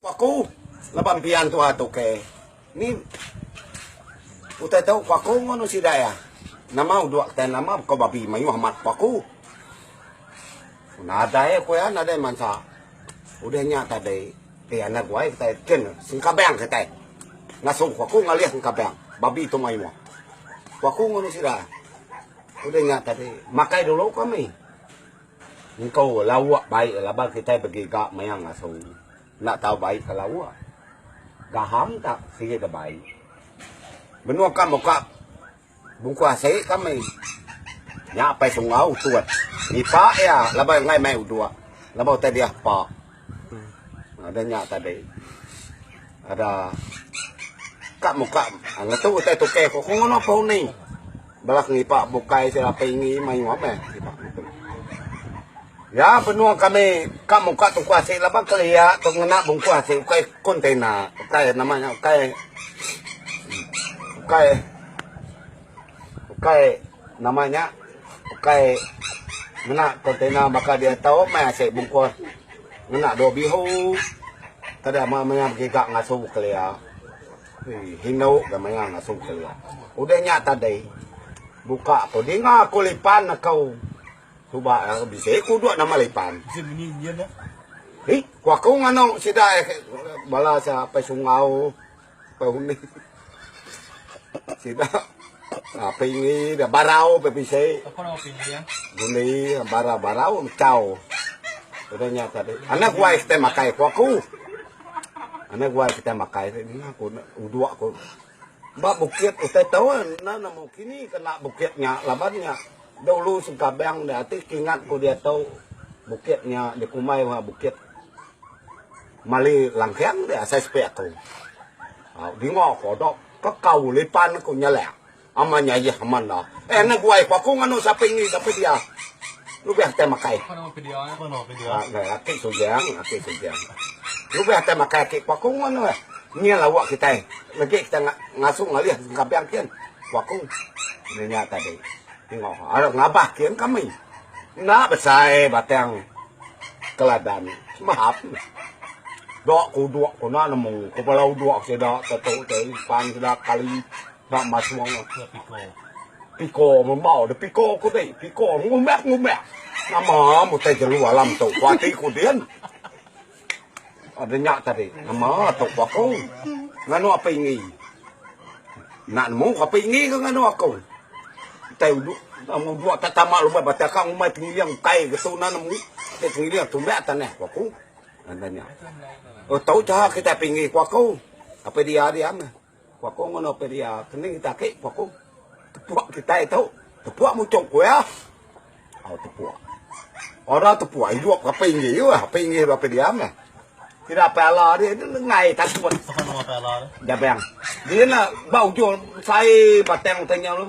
Ku aku, laban pia entua tu ke ni utai tu ku aku ngono sida iya. Nama uduk kitai nama baka babi mayuh amat ku aku. Nadai aku iya nadai mansa. Udah nya tadi pia anak guai kitai kin sengkabang kitai. Ngasu ku aku ngalih sengkabang babi tu mayuh. Ku aku ngono sida. Udah nya tadi makai dulu kami. Engko lauk baik laban kitai begiga maya ngasu enda tau baik ka lauk. Gaham ka sigi da baik. Menua ka muka bungku asi kami. Nya apai Sunggau tut. Ngipak iya laban enggai mai uduk laban utai diah pak. Ada nya tadi. Ada kak muka ngatu utai tukai ko ko ngono pau ni. Belak ngipa bukai sira pingi mayu apa eh. Ya benua kami kak muka tu ku asi laba kelia tu ngena bungku asi ukai kontena. Ukai nama nya ukai ukai Ukai nama nya ukai ngena kontainer baka diau ito meh asai bungkus ngena dua bihu kada meh maya begiga ngasu kelia indu ga maya ngasu kelia udah nya tadi buka ko dinga ko lipan ko suba bisi ko dua nama lipan ko aku nganu sida bala sia apai sunggau. Paunih. Sida. Api ngi da barau pe pisi. Apa nama api ngi ya? Guni barau barau chau. Udah nya tadi. Anak gua kita makai ku aku. Anak gua kita makai ni aku uduk aku. Ba bukit utai tahu na nama kini kena bukit nya laban nya. Dulu sengkabang da ati kingat ku dia tau bukit nya dikumbai bukit Mali langkang dia asai sepi aku. Au dinga ko dok kekau lipan ko nyelak. Aman nya yeh aman enda. Eh ne guai ko aku nganu sapi ni sapi dia. Lubeh te makai. Apa nama video eh? Apa nama video? Ah, ne aki sujang, aki sujang. Lubeh te makai aki ko aku nganu eh. Nya lawa kita. Lagi kita ngasuh ngalih kampung kin. Ko aku. Nya tadi. Enggau arap ngabah kin kami enda besai batang keladan semahap dok kudok tuna nemu kepala udok sida tetu te ipan sida kali ba masong piko mambau de piko ku ti piko ngumbak ngumbak nama mutai jelu alam tu kuati ku din. Ada nya tadi nama tok ku aku nganu api enggi. Enda nemu ke api enggi ke nganu aku. Utai uduk amu dua ta tama lubah ba taka ngumbai pengiling ukai ke tu na nemu. Te pengiling tumbek tanah ku aku. Ada nya. Oh tau cha kitai api enggi ku aku. Api dia diam. Ku aku ngono pia dia kening kita agi ku aku. Tepuk kitai tu. Tepuk muchung ku iya. Au tepuk. Orang tepuk idup ke apai inggih iya. Apai inggih apai diam lah. Sida apai ala dia ni lengai takut. Siapa nama apai ala dia? Jabang. Dia na ba ujung sai batang tanya lu.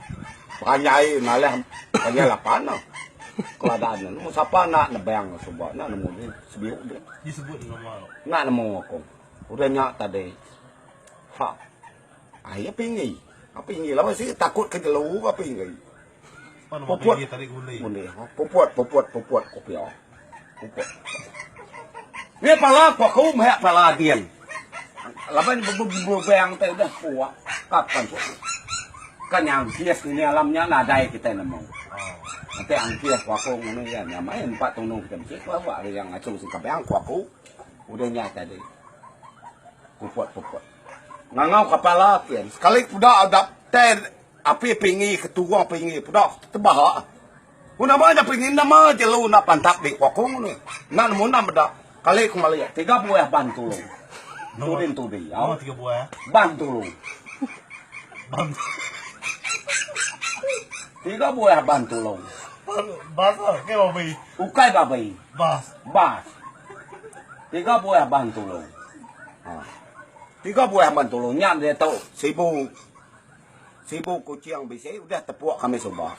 Panjai ngalih panjai lapan no. Keladan ne nemu sapa enda nebang suba enda nemu di sebiu di. Disebut nama. Enda nemu aku. Udah nya tadi. Ha. Ai api ngi. Api ngi lawa si takut ke jelu api ngi. Puput tadi kundi. Kundi. Puput puput puput kopi. Nya pala ko aku meh pala ading. Laban bebebang te udah ko kapan ko ka nya angkis ngini alam nya nadai kitai nemu. Enti angkis ko aku ngini ya nya meh empa tunu kitai mesti ko awak ari yang achu sing kabang ko aku udah nya tadi. Puput puput. Ngangau ka pala kin sekali puda dap te api pingi ke turung pingi puda tebaha. Ku nama nya pengin nama jelu enda pantap di ku aku ni. Enda nemu enda meda. Kali ku meli tiga buah ban tulu. Tuding tu diau. Ban tulu. Tiga buah ban tulu. Ukai babi. Bas. Tiga buah ban tulu. Ha. Tiga buah ban tulu nya diatu sibu. Sibu Kuching bisi udah tepuk kami suba.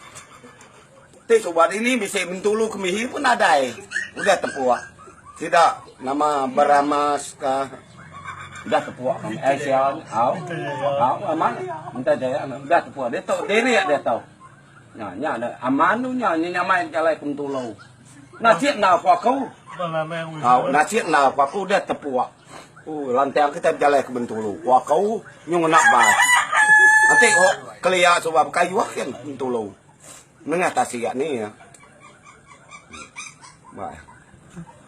Ti suba dini bisi Bintulu Kemihi pun nadai udah tepuk. Sida nama Beramas ka udah tepuk kami. Ai siang au. Au aman. Minta jaya udah tepuk. Dia tu diri dia tu. Nya nya ada aman tu nya nya nyamai jalai ke Bintulu. Nasib na aku aku. Au nasib na aku aku udah tepuk. Ku lanting kitai bejalai ke Bentulu, ku aku nyu ngena bas. Enti ku kelia suba baka ioh kin Bentulu. Nengah tasik ni. Ba eh.